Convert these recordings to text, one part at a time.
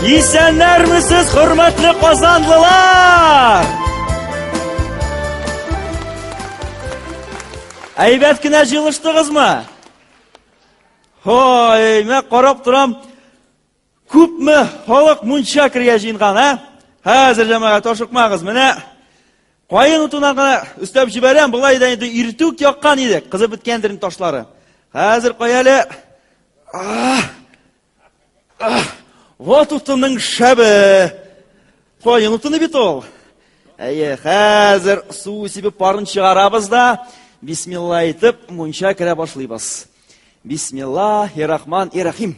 Исәннәрмесез, хөрмәтле казанлылар! Әйбәт кенә җылыштыгызмы? Ой, мә карап торам, Күпме халык мунча кергә җыенган, ә? Хәзер җәмәгать ашыкмагыз. Менә каен утына гына өстәп җибәрәм, болай да инде иртүк яккан идек. Кызып беткәндер инде ташлары. Хәзер кая әле? Вот утының шәбе. Каен утыны бит ул. Әйе, хәзер су сибеп парын чыгарабыз да, бисмилла әйтеп, мунча керә башлыйбыз. Бисмиллахи рахман и рахим.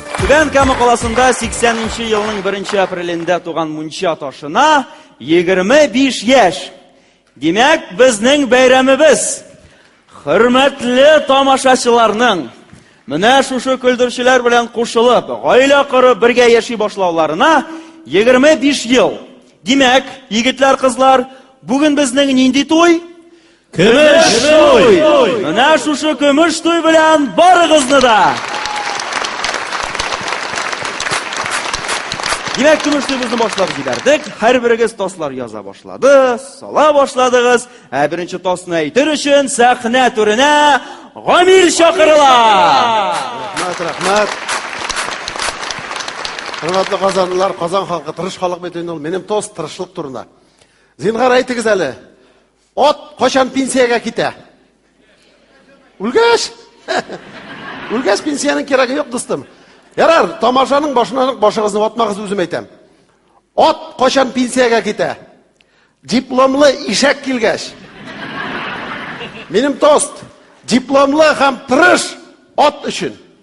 Түбән Кама каласында 80 нче елның 1 апрелендә туган мунча ташына 25 яшь. Димәк, безнең бәйрәмебез хөрмәтле тамашачыларның менә шушы көлдерчеләр белән кушылып, гаилә корып, бергә яши башлауларына 25 ел. Димәк, егетләр, кызлар, бүген безнең нинди туй? Көмеш туй! Менә шушы көмеш туй белән барыгызны да! Димәк, көмеш туйбызны башлап җибәрдек. Һәрберегез таслар яза башлады, сала башладыгыз. Ә беренче тасны әйтер өчен сәхнә түренә Гамир чакырыла. Рәхмәт, рәхмәт. Хөрмәтле казанлылар, Казан халкы тырыш халык бит инде ул. Минем тост тырышлык турында. Зинһар әйтегез әле. Ат качан пенсиягә китә? Үлгәч? Үлгәч пенсиянең кирәге юк, дустым. Ярар, тамашаның башына башыгызны ватмагыз, үзем әйтәм. Ат качан пенсиягә китә? Дипломлы ишәк килгәч. Минем тост. Дипломлы һәм тырыш ат өчен.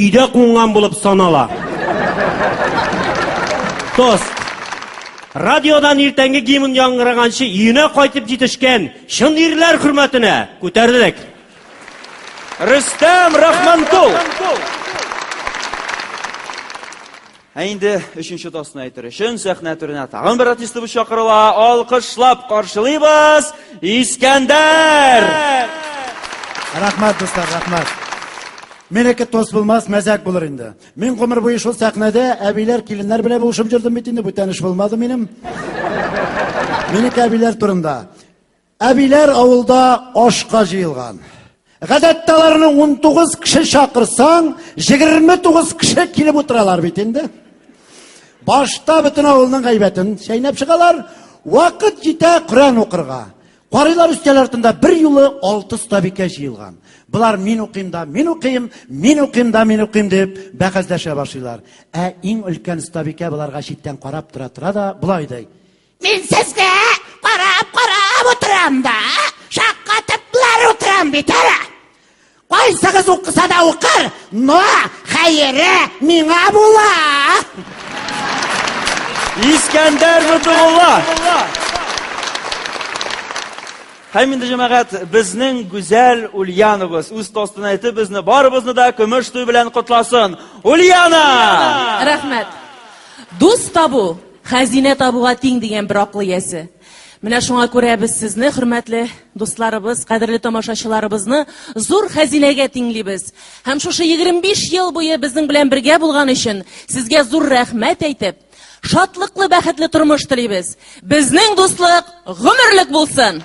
Өйдә кунган булып санала. Тост. Радиодан иртәнге гимн яңгыраганчы өенә кайтып җитешкән чын ирләр хөрмәтенә күтәрдек. Рөстәм Рахманкул! Ә инде өченче тосны әйтер өчен сәхнә түренә тагын бер артистыбыз чакырыла. Алкышлап каршылыйбыз Искәндәр! Рәхмәт, дуслар, рәхмәт. Менеке тос булмас, мәзәк булыр инде. Мин гомер буе шул сәхнәдә әбиләр, киленнәр белән булышып йөрдем бит инде, бүтәнеш булмады минем. Минеке әбиләр турында. Әбиләр авылда ашка җыелган. Гадәттә аларны 19 кеше чакырсаң, 29 кеше килеп утыралар бит инде. Башта бөтен авылның гайбәтен чәйнәп чыгалар, вакыт җитә Коръән укырга. Карыйлар өстәл артында бер юлы алты стабикә җыелган. Болар мин укыйм да, мин укыйм, мин укыйм да, мин укыйм дип бәхәсләшә башлыйлар. Ә иң өлкән стабикә боларга читтән карап тора тора да, болай ди. Мин сезгә карап карап утырам да, шаккатыплар утырам бит әле. Кайсыгыз укыса да укыр, но хәере миңа була. Искәндәр Нутулла. Һәм инде җәмәгать безнең гүзәл Ульяновыз үз тостына әйтеп безне барыбызны да көмеш туй белән котласын. Ульяна! Рәхмәт. Дус табу Хәзинә табуга тиң, дигән бер акыл иясе. Менә шуңа күрә без сезне, хөрмәтле дусларыбыз, кадерле тамашачыларыбызны зур хәзинәгә тиңлибез. Һәм шушы 25 ел буе безнең белән бергә булган өчен сезгә зур рәхмәт әйтеп, шатлыклы, бәхетле тормыш телибез. Безнең дуслык гомерлек булсын!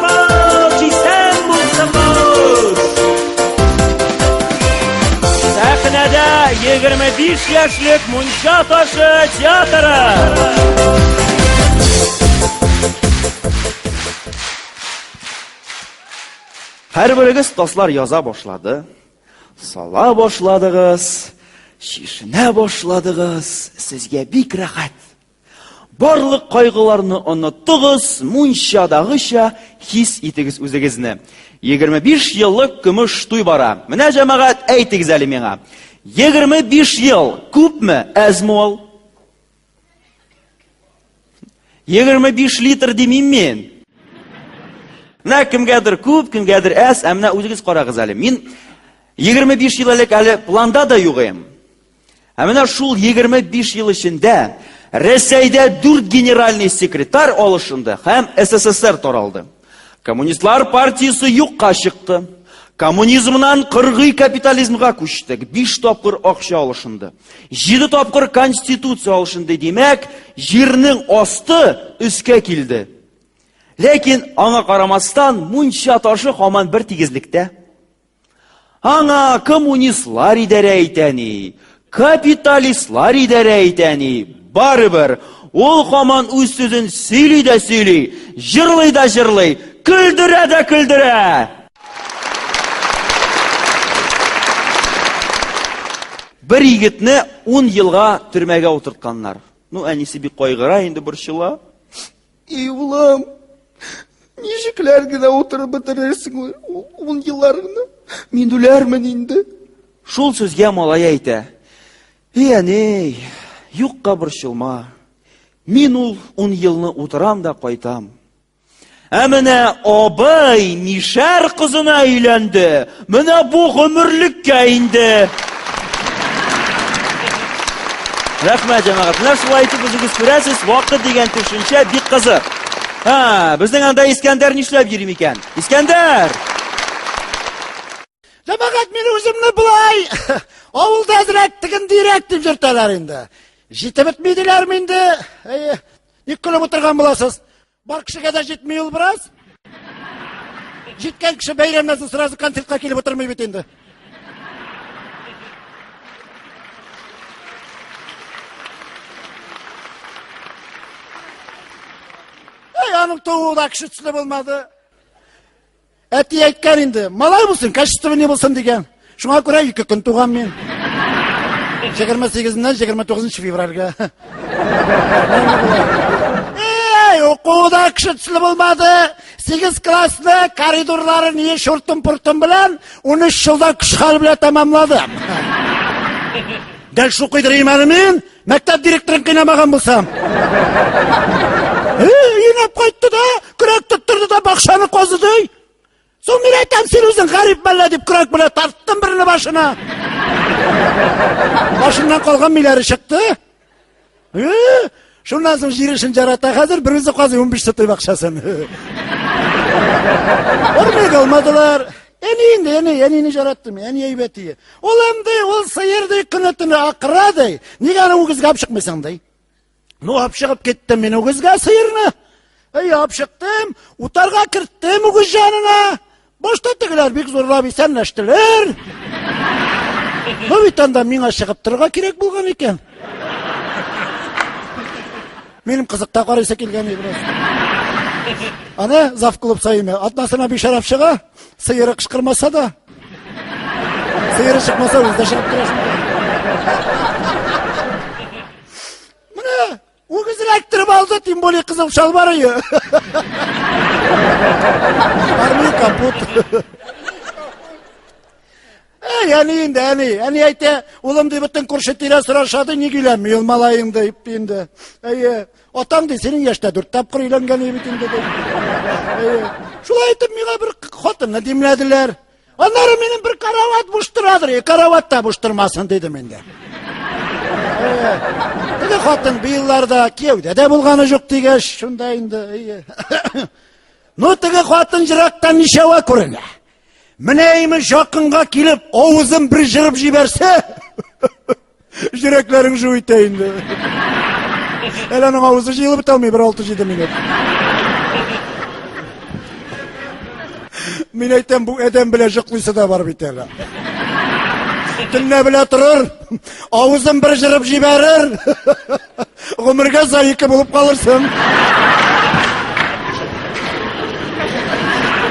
Сәхнәдә 25 яшьлек Мунча ташы театры. Һәрберегез таслар яза башлады, сала башладыгыз, чишенә башладыгыз, сезгә бик рәхәт. Барлык кайгыларны онытыгыз, мунчадагыча хис итегез үзегезне. 25 еллык көмеш туй бара. Менә җәмәгать, әйтегез әле миңа. 25 ел күпме, әзме ул? 25 литр димим мин. Менә кемгәдер күп, кемгәдер әз, ә менә үзегез карагыз әле. Мин 25 ел элек әле планда да юк идем. Ә менә шул 25 ел эчендә Рәсәйдә дүрт генеральный секретарь алышынды һәм СССР таралды. Коммунистлар партиясе юкка чыкты. Коммунизмнан кыргый капитализмга күчтек. Биш тапкыр акча алышынды. Җиде тапкыр конституция алышынды. Димәк, җирнең асты өскә килде. Ләкин аңа карамастан, мунча ташы хаман бер тигезлектә. Аңа коммунистлар идарә итә ни, капиталистлар идарә итә ни, барыбер ул хаман үз сүзен сөйли дә сөйли, җырлый да җырлый, көлдерә дә көлдерә. Бер егетне 10 елга төрмәгә утыртканнар. Ну, әнисе бик кайгыра, инде борчыла. И улым, ничекләр генә утырып бетерерсең ун елларыңны? Мин үләрмен инде. Шул сүзгә малай әйтә. И әней, юкка борчылма. Мин ул ун елны утырам да кайтам. Ә менә абый мишәр кызына өйләнде. Менә бу гомерлеккә инде. Рәхмәт, җәмәгать. Менә шулай итеп үзегез күрәсез, вакыт дигән төшенчә бик кызык. Ха, безнең анда Искәндәр нишләп йөри микән? Искәндәр! Җәмәгать, мин үземне болай авылда әзрәк тегендирәк дип йөртәләр инде. Җитеп бетмидиләрме инде? Әйе. Ник көлеп утырган буласыз? Бар кешегә дә җитми ул бераз. Җиткән кеше бәйрәмнән соң сразу концертка килеп утырмый бит инде. Эй, аның тууы да кеше төсле булмады. Әти әйткән инде, малай булсын, качествоны булсын дигән. Шуңа күрә ике көн туган мин. 28-ннән 29 февральгә. Эй, укуда кеше төсле булмады. 8 классны коридорлары ни шуртым-пуртым белән 13 елдан күш хәл белән тәмамладым. Дәл шукыйдыр имәне мин, Мәктәп директорын кыйнамаган булсам. Инәп кайтты да, көрәк тоттырды да бакшаны казыды. Соң мин әйтәм, син үзең гарип мәллә дип көрәк белән тарттым берне башына. Башыннан калган миләре чыкты. Шуннан соң җир эшен жарата хәзер, бер үзе казый 15 сотый бакчасын. Ормый алмадылар. Әни инде, әни, әнине жараттым, әни әйбәт ие. Ул әмди, ул сыер ди, көне төне акыра ди. Нигә аны үгезгә алып чыкмыйсың ди. Ну, алып чыгып киттем мин үгезгә сыерны. Әй, алып чыктым, утарга керттем үгез җанына. Башта тегеләр бик зурлап исәнләштеләр. Ну, бит анда миңа чыгып торырга кирәк булган икән. Минем кызыкта карыйсы килгән иде. Аны зав клуб саеме. Атнасына бишәрәп чыга, сыеры кышкырмаса да. Сыеры чыкмаса үзе чыгып керәсен. Менә үгез эләктереп алды, тем более кызыл шалбар ие. Армия капут. Әй, әни инде, әни, әни әйтә, улым ди, бөтен күрше тирә сорашады, ник өйләнми ул малаең дип инде. Әйе, атаң ди, синең яшьтә дүрт тапкыр өйләнгән бит инде ди. Әйе. Шулай итеп миңа бер хатынны димләделәр. Аннары минем бер карават буш торадыр, карават та буш тормасын дидем инде. Теге хатын быелларда кияүдә дә булганы жоқ дигәч, шунда инде. Ну, теге хатын жырактан ничәва күренә. Менә имеш якынга килеп, авызын бер җырып җибәрсә, йөрәкләрең жу итә инде. Әле аның авызы җыелып бетә алмый бер 6-7 минут. Мин әйтәм, бу адәм белән җыклыйсы да бар бит әле. Төнлә белә торыр, авызын бер җырып җибәрер. Гомергә заики булып калырсың.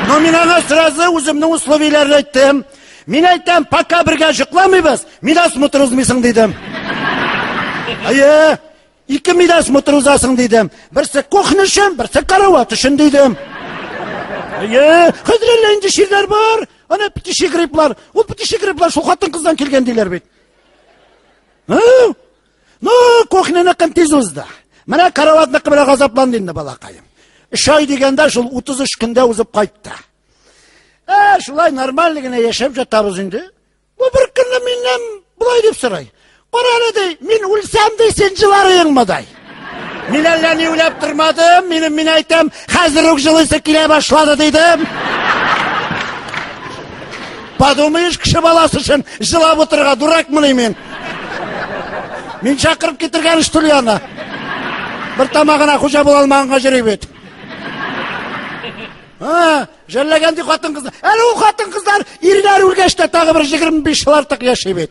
Но мин аңа сразу үземнең условиеләрне әйттем. Мин әйтәм, пока бергә җыкламыйбыз, мидас мотор узмыйсың дидем. Әйе, ике мидас мотор узасың дидем. Берсе кухня өчен, берсе карават өчен дидем. Әйе, хәзер әллә инде ширләр бар. Ана птичий грипплар. Ул птичий грипплар шул хатын-кыздан килгән диләр бит. Һы? Ну, кухняныкын тиз узды. Менә караватныкы белән газапланды инде балакаем. Өч ай дигәндә шул 33 көндә узып кайтты. Ә, шулай нормаль генә яшәп жатабыз инде. Бу бер көнне миннән болай дип сорай. Кара әле ди, мин үлсәм ди, син җыларыеңмы дай. Мин әллә ни уйлап тормадым, минем мин әйтәм, хәзер үк җылысы килә башлады дидем. Подумаешь, кеше баласы өчен җылап утырырга дуракмыни мин? Мин чакырып китергән что ли аны? Бер тамагына хуҗа була алмаганга йөри бит. А, жәлләгән ди хатын-кызлар. Әле ул хатын-кызлар ирләр үлгәч тә тагы бер 25 ел артык яши бит.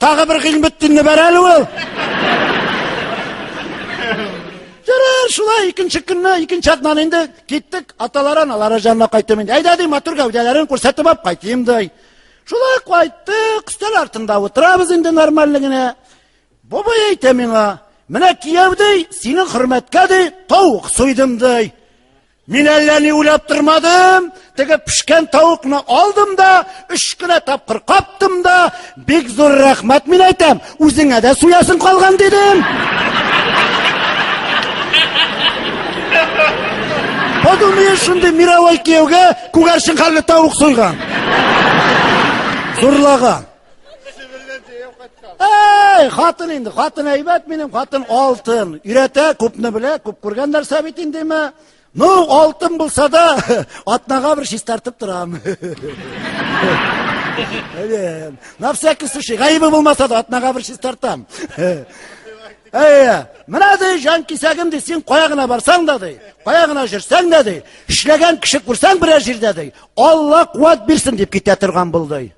Тагы бер Гыйльметдинне бәр әле ул. Ярар, шулай икенче көнне, икенче атнаны инде киттек, аталары аналары җанына кайттым инде. Әйдә ди, матур гәүдәләрен күрсәтеп алып кайтыйм ди. Шулай кайттык, өстәл артында утырабыз инде нормаль генә. Бабай әйтә миңа, менә кияү ди, синең хөрмәткә ди, тавык суйдым ди. Мин әллә ни уйлап тормадым, теге пешкән тавыкны алдым да, үш кенә тапкыр каптым да, бик зур рәхмәт мин әйтәм, үзеңә дә суясың калган дидем. Подумай шундый мировой кияүгә күгәрчен хәлле тавык суйган. Зурлаган. Әй, хатын инде, хатын әйбәт минем, хатын алтын. Өйрәтә, күпне белә, күп күргән нәрсә бит индеме? Ну, алтын булса да, атнага бер чистартып торам. Әйе. На всякий случай, гаебе булмаса да атнага бер чистартам. Әйе. Менә ди, җан кисәгем ди, син кая гына барсаң да ди, кая гына җөрсәң дә ди, эшләгән кеше күрсәң берәр җирдә ди, Алла куәт бирсен дип китә торган булды.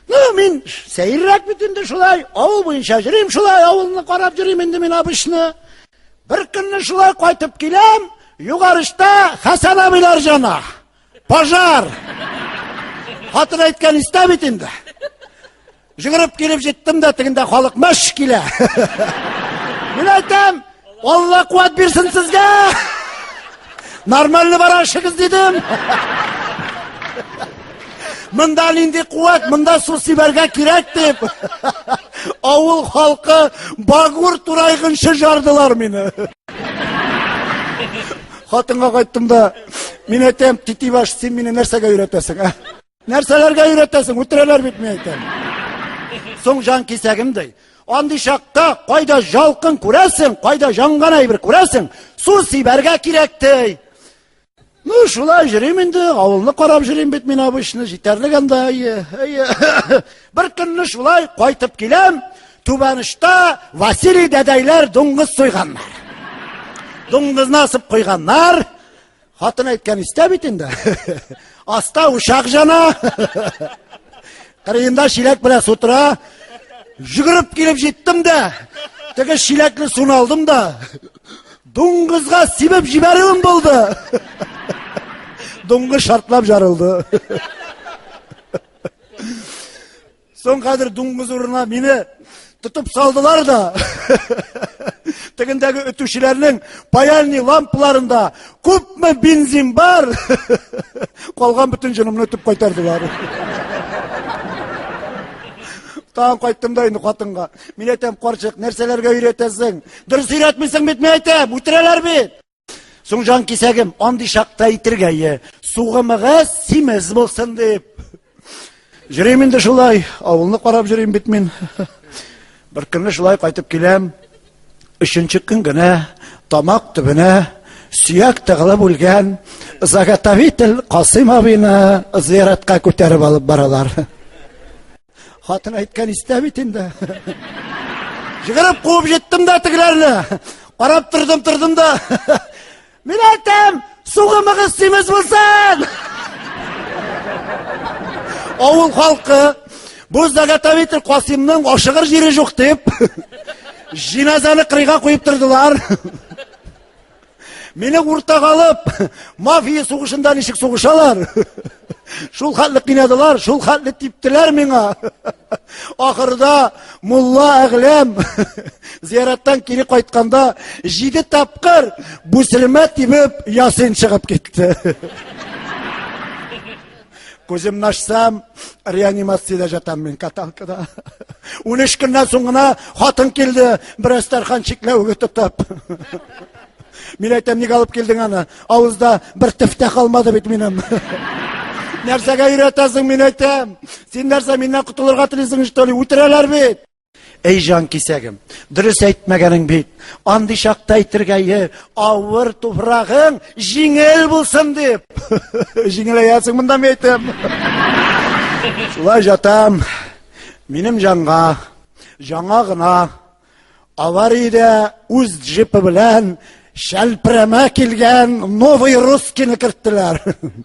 Ну, мин сәеррәк бит инде шулай, авыл буенча йөрим шулай, авылны карап йөрим инде мин абышны. Бер көнне шулай кайтып киләм, югарышта Хәсән абыйлар җана. Пожар. Хатын әйткән истә бит инде. Жүгереп килеп җиттем дә, тегендә халык мәш килә. Мин әйтәм, Алла куәт бирсен сезгә! Нормально бара эшегез дидем. Мында нинди куәт, мында су сибәргә кирәк дип. Авыл халкы багур турайгынчы жардылар мине. Хатынга кайттым да, мин әйтәм, титибаш, син мине нәрсәгә өйрәтәсең, ә? Нәрсәләргә өйрәтәсең? Үтерәләр бит мин әйтәм. Соң җан кисәгем ди. Андый чакта кайда жалкын күрәсең, кайда җанган әйбер күрәсең, су сибәргә кирәк ди. Ну, шулай җөрим инде, авылны карап җөрим бит мин обычно, җитәрлек анда, әйе, әйе. Бер көнне шулай кайтып киләм, Түбәнышта Василий дәдәйләр дуңгыз суйганнар. Дуңгызны асып куйганнар. Хатын әйткән истә бит инде. Аста учак жана. Кырыенда шиләк белән су тора. Жүгереп килеп җиттем дә, теге шиләкне суны алдым да, дуңгызга сибеп җибәрүем булды. Дуңгыз шартлап жарылды. Соң хәзер дуңгыз урынына мине тотып салдылар да. Тегендәге өтүчеләрнең паяльни лампаларында күпме бензин бар? Калган бөтен җынымны өтеп кайтардылар. Тагын кайттым да инде хатынга. Мин әйтәм, карчык, нәрсәләргә өйрәтәсең? Дөрес өйрәтмисең бит, мин әйтәм, үтерәләр бит. Соң жан кисәгем, андый шакта итергәе, сугымыгы симез булсын дип. Жүрим инде шулай, авылны карап жүрим бит мин. Бер көнне шулай кайтып киләм. Өченче көн генә тамак төбенә сөяк тыгылып үлгән заготовитель Касыйм абыйны зыяратка күтәреп алып баралар. Хатын әйткән истә бит инде. Җыгырып куып җиттем дә тегеләрне. Карап тордым, тордым да. Мин әйтәм, сугымыгыз симез булсын! Авыл халкы бу заготовитель Касимның ашыгыр җире юк дип, җиназаны кырыйга куеп тордылар. Мине уртага алып, мафия сугышында ничек сугышалар? Шул хәтле кинәдылар, шул хәтле типтеләр миңа. Ахырда мулла әгләм зияраттан кире кайтканда җиде тапкыр бүсермә тибеп ясин чыгып китте. Күземне ачсам, реанимациядә жатам мин каталкада. Унөч көннән соң гына хатын килде, бераз тархан чикләвеге тотып. Мин әйтәм, ник алып килдең аны? Авызда бер тефтә калмады бит минем. Нәрсәгә өйрәтәсең, мин әйтәм. Син нәрсә, миннән котылырга телисең, что ли? Үтерәләр бит. Әй җан кисәгем, дөрес әйтмәгәнең бит. Андый чакта әйтергә е, авыр туфрагың җиңел булсын дип. Җиңеләясең монда мин әйтәм. Шулай җатам. Минем җанга җаңа гына авариядә үз джипы белән шәлпрәмә килгән новый русскийны керттеләр.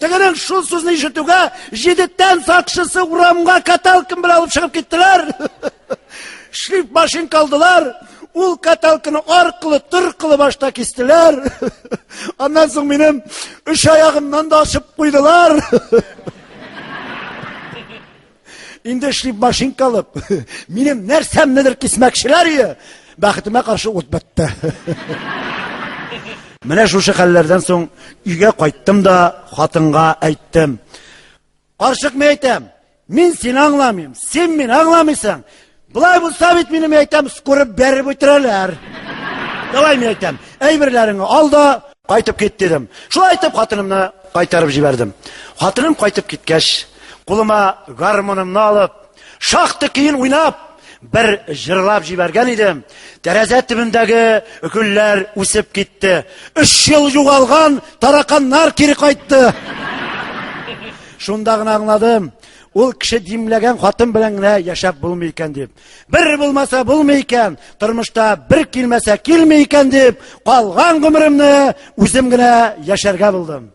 Тегенең шул сүзне ишетүгә, җидеттән сакчысы урамга каталкин белән алып чыгып киттеләр. Шлиф машин калдылар. Ул каталкины аркылы, торкылы башта кистеләр. Аннан соң минем үш аягымнан да ашып куйдылар. Инде эшли машинка алып, минем нәрсәмнедер кисмәкчеләр ие. Бәхетемә каршы ут бетте. Менә шушы хәлләрдән соң өйгә кайттым да хатынга әйттем. Карчык мен әйтәм, мин сине аңламыйм, син мине аңламыйсың. Былай булса бит минем әйтәм, скурып бәреп үтерәләр. Давай мин әйтәм, әйберләреңне ал да кайтып кит дидем. Шулай итеп хатынымны кайтарып җибәрдем. Хатыным кайтып киткәч, кулыма гармонымны алып, шахты киен уйнап, бер җырлап җибәргән идем. Тәрәзә төбендәге гөлләр үсеп китте. Өч ел югалган тараканнар кире кайтты. Шунда гына аңладым, Ул кеше димләгән хатын белән генә яшәп булмый икән дип. Бер булмаса булмый икән, тормышта бер килмәсә килми икән дип, калган гомеремне үзем генә яшәргә булдым.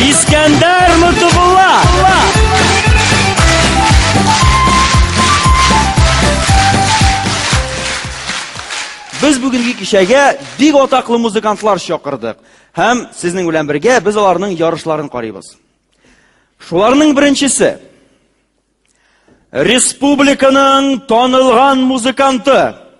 Искәндәр Мутубулла! Без бүгенге кичәгә бик атаклы музыкантлар чакырдык һәм сезнең белән бергә без аларның ярышларын карыйбыз. Шуларның беренчесе республиканың танылган музыканты